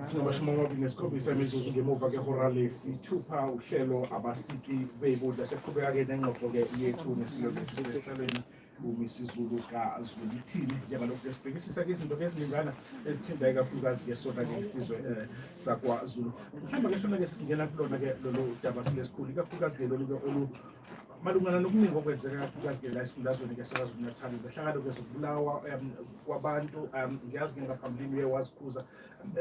sinamashumi amabili nesikhombisa imizuzu ngemuva kehora lesithupha uhlelo abasiki beyibudla sekuqhubeka-ke nengxoxo-ke yethu nesilo lesi sehlelweni umisizulu kazulithini njengalokhu ke sibhekisisa ke izinto ke eziningana ezithinta ikakhulukazi-ke sona-ke isizwe um sakwazulu mhlawumbe ke sona-ke sesingena kulona-ke lolu daba silesikhulu ikakhulukazi-ke lolu-ke malungana nokuningi okwenzeka kakhulukazi-ke la esifundazweni ke sakazulu-natal zehlakalo-ke zokubulawa um, kwabantu um ngiyazi ke ngaphambilini uye wazikhuza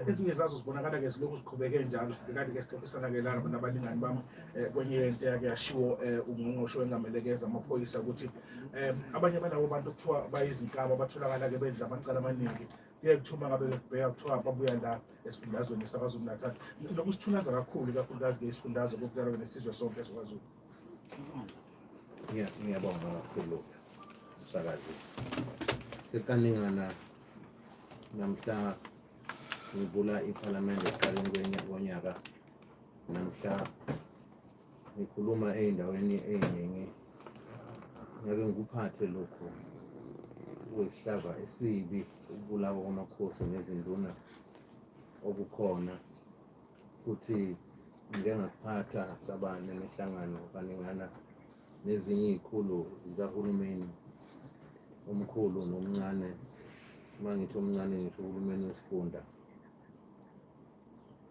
ezinye zazo zibonakala-ke zilokhu ziqhubeke njalo kanti-ke sixoxisana-ke la nabalingani bami eh, kwenye yento yake yashiwo um eh, ungqongqosho wengamelekeza amaphoyisa ukuthi um abanye balawo bantu kuthiwa bayizinkaba batholakala-ke benza amacala amaningi kuye kuthiwa uma ngabe kubheka kuthiwa babuya la esifundazweni sakazulu natal lokhu sithunaza kakhulu ikakhulukazi ke isifundazwe kokutalwe nesizwe sonke ezikwazulu ngiyabonga kakhulu msakazi sekaningana namhla ngivula iphalamende ekuqaleni konyaka namhla ngikhuluma ey'ndaweni ey'ningi ngeke ngikuphathe lokhu kuyisihlava esibi ukubulawa kwamakhosi nezinduna okukhona futhi ngike ngakuphatha saba nemihlangano kaningana nezinye iy'khulu zikahulumeni omkhulu nomncane uma ngithi omncane ngisho uhulumeni wesifunda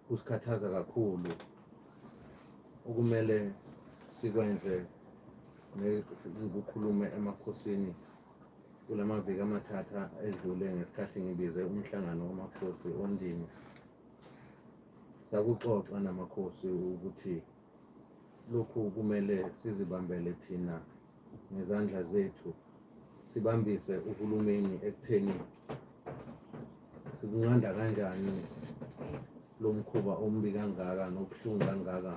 kusikhathaza kakhulu okumele sikwenze ngikukhulume emakhosini kula maviki amathatha edlule ngesikhathi ngibize umhlangano wamakhosi ondini sakuxoxa namakhosi ukuthi lokhu kumele sizibambele thina ngezandla zethu sibambise uhulumeni ekutheni sikunqanda kanjani lo mkhuba ombi kangaka nobuhlungu kangaka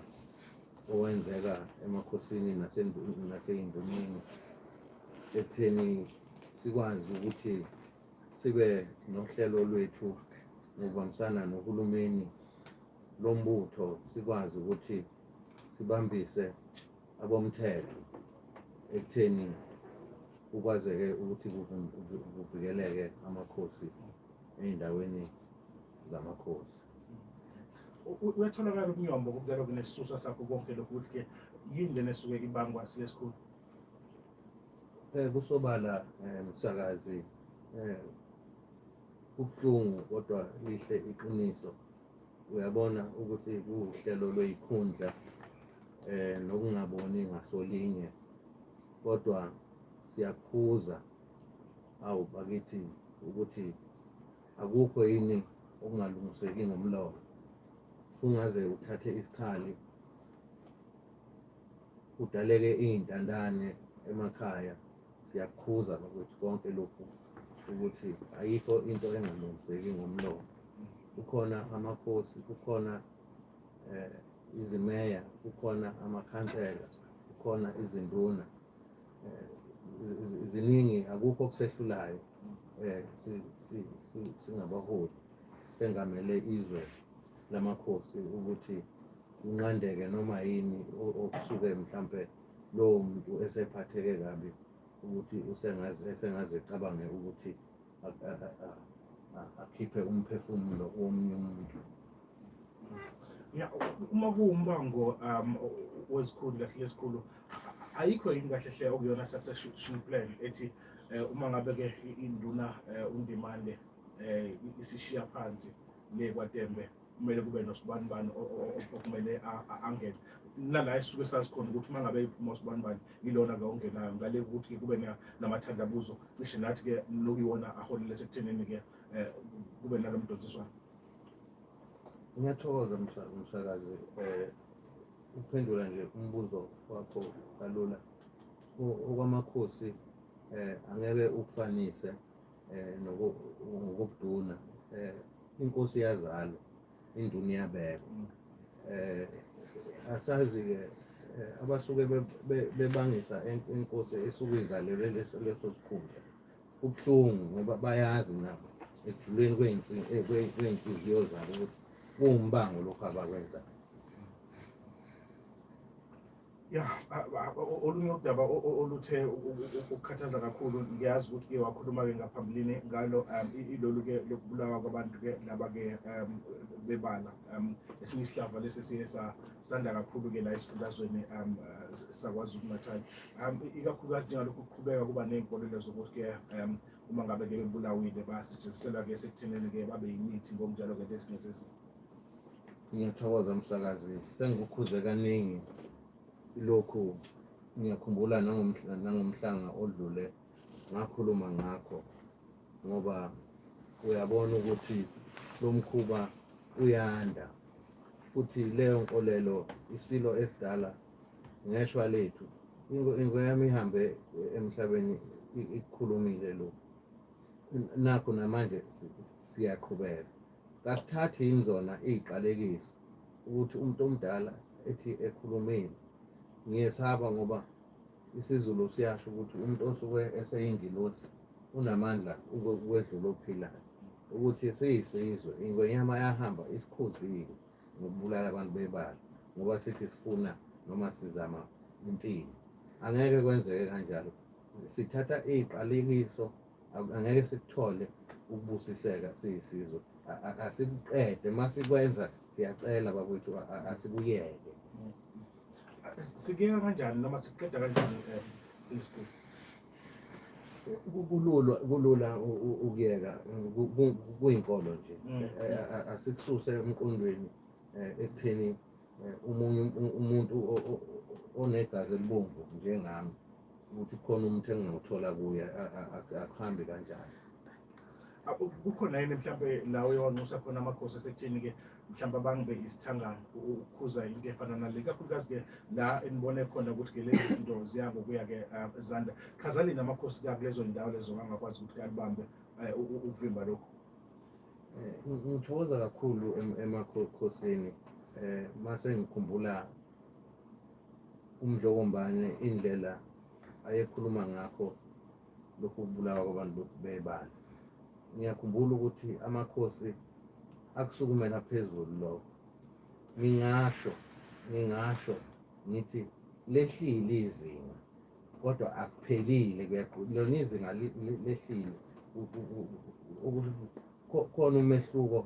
owenzeka emakhosini naseyindumeni ekutheni sikwazi ukuthi sibe nohlelo lwethu ngokubambisana nohulumeni lombutho sikwazi ukuthi sibambise abomthetho ekutheni kukwazeke ukuthi kuvikeleke amakhosi ey'ndaweni zamakhosi uyatholakala umnyombo kubukela kunesisusa sakho konke lokhu ukuthi-ke yini lena esuke ibangwa silesikhulu um eh, kusobala um msakazi um kubuhlungu kodwa lihle iqiniso uyabona ukuthi kuwuhlelo lweyikhundla eh nokungaboni ngasolinye kodwa siyakhuza awu bakithi ukuthi akukho yini okungalungiseki ngomlomo kungaze uthathe isikhali kudaleke iy'ntandane emakhaya siyakhuza nokuthi konke lokhu ukuthi ayikho into engalungiseki ngomlomo kukhona amakhosi kukhona eh, izimeya kukhona amakhansela kukhona izinduna eh, ziningi akukho okusehlulayo eh, singabaholi sengamele izwe lamakhosi ukuthi kunqandeke noma yini okusuke mhlampe lowo muntu esephatheke kabi ukuthi esengaze ecabange ukuthi akhiphe umphefumulo womunye umuntu ya uma kuwumbango um wezikhulu kahle lesikhulu ayikho yini kahle hle okuyona succession plan ethi eh, uma ngabe ke induna eh, undimande eh, isishiya phansi le kwaTembe kumele kube nosibanibani okumele angene nala esisuke sazi khona ukuthi uma ngabe iphuma usibanibani yilona-ke ongenayo ngale ukuthi-ke kube namathandabuzo cishe nathi-ke nokuyiwona aholile sekuthenini-ke um kube nalo mdonsiswano ngiyathokoza msakazi um eh, ukuphendula nje umbuzo wakho kalula okwamakhosi um angeke ukufanise um ngokuduna um inkosi yazalwa induna iyabekwa um asazi-ke abasuke bebangisa inkosi esuke izalelwe leso sikhundla kubuhlungu ngoba bayazi nabo ekujuleni kwey'nhliziyo zabo ukuthi kuwumbango lokhu abakwenzayo ya olunye udaba oluthe ukukhathaza kakhulu ngiyazi ukuthi ke wakhuluma-ke ngaphambilini ngalo um, ilolu-ke lokubulawa kwabantu-ke laba-ke um, bebala um, esinye isihlava lesi siye sanda kakhulu-ke la esifundazweni sakwazulu natal ikakhulukazi njengalokhu kuqhubeka kuba ney'nkolelo zokuthi-ke uma ngabe-ke bebulawile basetshenzisela-ke esekutheneni-ke babe yimithi ngokunjalo-ke lesinye sezimo Ngiyathokoza msakazi, sengikukhuze kaningi lokhu. Ngiyakhumbula nangomhlanga odlule ngakhuluma ngakho ngoba uyabona ukuthi lo mkhuba uyanda futhi leyo nkolelo isilo esidala ngeshwa lethu ingwe yami ihambe emhlabeni ikukhulumile lo nakho namanje siyaqhubeka Kasithathi yini zona iziqalekiso ukuthi umuntu omdala ethi ekhulumile ngiyesaba ngoba isiZulu siyasho ukuthi umuntu osuke eseyingilosi unamandla ukwedlula ophilayo ukuthi siyisizwe ingwenyama yahamba isikhuzile ngokubulala abantu bebala ngoba sithi sifuna noma sizama impilo angeke kwenzeke kanjalo sithatha iqalekiso angeke sikuthole ukubusiseka siyisizwe asikuqede uma sikwenza siyacela bakwethu asikuyeke sikuyeka kanjani noma sikuqeda kanjani um eh, sisku kulula kulula ukuyeka kuyinkolo nje mm. asikususe emqondweni um ekutheni eh, umunye umuntu onegazi elibomvu njengami ukuthi khona umuntu engingawuthola kuye akuhambi kanjani kukhona yini mhlawumbe la uye wanxusa khona amakhosi esekutheni-ke mhlawumbe abangibe isithangane ukukhuza into efana nale kakhulukazi-ke la enibone khona ukuthi-ke lezi zinto ziyangokuya-ke ah, zanda chazanini amakhosi kakulezo ndawo lezo angakwazi ukuthi kalibambe eh, ukuvimba lokhu Eh, ngithokoza kakhulu emakhosini eh mase ngikhumbula umdlokombane indlela ayekhuluma ngakho lokhu kubulawa kwabantu bebala ngiyakhumbula ukuthi amakhosi akusukumela phezulu lokho ngingasho ngingasho ngithi lehlile izinga kodwa akuphelile lona izinga lehlile khona umehluko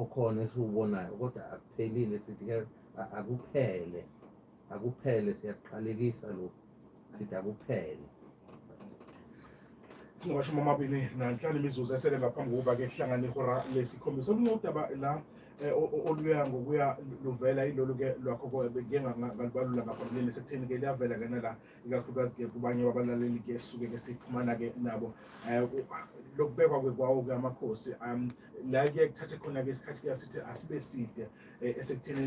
okhona esiwubonayo kodwa akuphelile sithi akuphele akuphele siyaqalekisa lokhu sithi akuphele singamashumi amabili nanhlanu imizuzu esele ngaphambi kokuba-ke kuhlangane ihora lesikhombisa olunye udaba la Eh, oluya ngokuya luvela ilolu ke lwakho ke ngalibalula ngaphambilini sekutheni ke liyavela ke nala ikakhulukazi ke kubanye babalaleli ke sisuke ke sixhumana ke nabo eh, lokubekwa kwekwawo ke amakhosi um la kuye kuthathe khona ke isikhathi ke asithi asibe side eh, esekuthenini